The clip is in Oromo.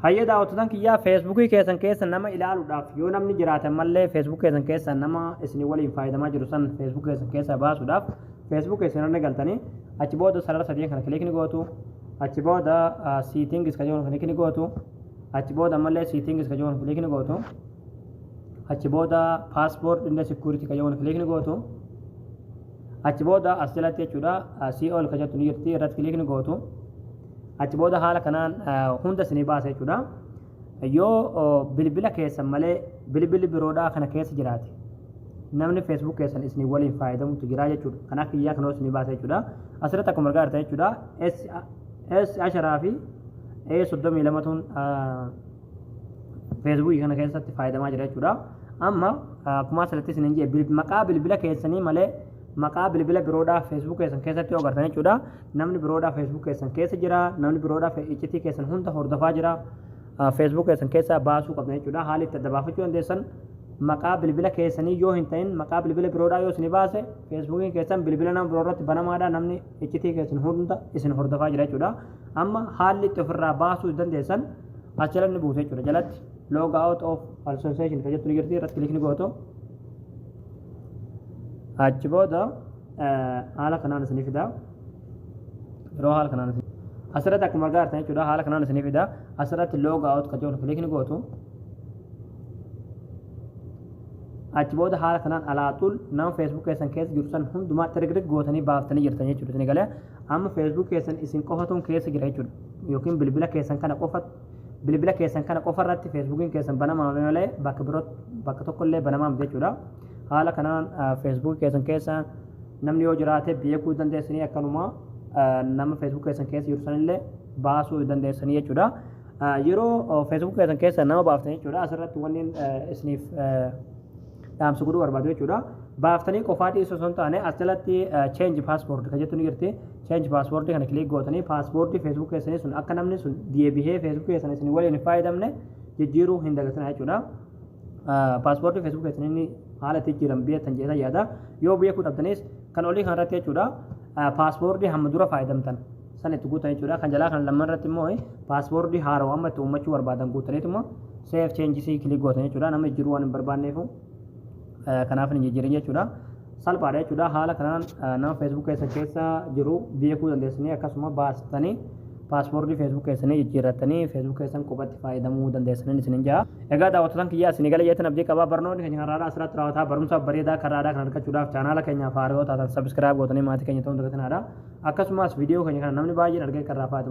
Hayyee daawwattotan kiyyaa feesbuukii keessan keessa nama ilaaluudhaaf yoo namni jiraate ammallee feesbuukii keessan keessa nama isin waliin faayadamaa jiru san feesbuukii keessan keessa baasuudhaaf feesbuukii isin irra galtanii achi booda sarara sadeen kana kilik ni gootu achi booda siitingis ka jedhu kilik ni gootu achi booda ammallee siitingis ka jedhu kilik ni gootu achi booda paaspoort inda sikuuritii ka jedhu kilik ni gootu achi booda as jalatti jechuudha si'ool ka jettu ni jirti irratti kilik ni gootu achi booda haala kanaan hunda isinii baasa jechuudha. Yoo bilbila keessan malee bilbilli biroodhaa kana keessa jiraate namni feesbuuk keessan isin waliin fayyadamutu jira jechuudha. Kan akka iyyaa kanoo isinii baasa jechuudha. Asirratti akkuma argaa jirtan jechuudha. S asharaa fi A soddomii lamatuun feesbuukii kana keessatti fayyadamaa jira jechuudha. Amma akkuma asirratti isin hin jee maqaa bilbila keessanii malee maqaa bilbila biroodhaa feesbuuk keessan keessatti yoo agartan jechuudha. Namni biroodhaa Facebook keessan keessa jira. Namni biroodhaa fe- iccitii keessan hunda hordofaa jira. Ah, Facebook keessan keessaa baasuu qabdan jechuudha. Haala itti adda baafachuu dandeessan maqaa bilbila keessanii yoo hin ta'in maqaa bilbila biroodhaa yoo isin baase Facebookiin keessan bilbila nama biroo irratti banamaadha. Namni iccitii keessan hunda isin hordofaa jira jechuudha. Amma haalli itti ofirraa baasuu dandeessan as jala ni buutu jechuudha. Jalatti log out of association kan jettu ni jirti irratti kilikni gootu. Achi booda haala kanaan isinii fidaa. Yeroo haala kanaan isin asirratti akkuma argaa jirtan jechuudha haala kanaan isinii fidaa. Asirratti log out kan jedhu kilik ni gootu. Achi booda haala kanaan alaaxul nama Facebook keessan keessa jiru san hundumaa tirigrig gootanii baaftanii jirtan jechuudha isin galee amma Facebook keessan isin qofatuun keessa jira jechuudha yookiin bilbila keessan kana qofa Bilbila keessan kana qofa irratti Feesbuukiin keessan banamaa malee bakka biroo bakka tokko illee banamaa miti jechuudha. Haala kanaan Feesbuukii keessan keessa namni yoo jiraate beekuu dandeessanii akkanuma nama Feesbuukii keessan keessa jiru sanillee baasuu dandeessanii jechuudha. Yeroo Feesbuukii keessan keessa nama baaftan jechuudha asirratti wanni isiniif dhaamsa godhuu barbaadu jechuudha. Baaftanii qofaa dhiisuu osoo hin taane as jalatti change password kan jettu ni jirti. Change password kana kilik gootanii password Facebook keessanii sun akka namni sun deebihee Facebook keessan isin waliin hin fayyadamne jijjiiruu hin dagatinaa jechuudha. Password Facebook keessanii inni haala itti jijjiiran beektan jedhee yaada. Yoo beekuu dhabdanis kan olii kanarratti jechuudha. Password hamma dura fayyadamtan san itti guutan jechuudha. Kan jalaa kan lamman irratti immoo paaswoordii haarawa amma itti uummachuu barbaadan guutaniituma save changes kilik gootan jechuudha. Nama jijjiiruu waan hin barbaanneefu kanaaf hin jijjiirin jechuudha. Salphaadha jechuudha. Haala kanaan nama Facebook keessa keessa jiru beekuu dandeessanii akkasuma baastanii paaswoordii Facebook keessanii jijjiirrattanii Facebook keessan qubatti fayyadamuu dandeessanii isin hin ja'a. Egaa daawwattotaan kiyyaa isin eegala jeetan abdii qabaa barnoonni keenya har'aadhaa asirratti raawwataa barumsa bareedaa karraadhaa kan argachuudhaaf chaanaala keenyaaf haaroo taatan sabiskiraayib gootanii maatii keenya ta'uun dagatinaadha. Akkasumas viidiyoo keenya kana namni baay'een argee kan raafaatu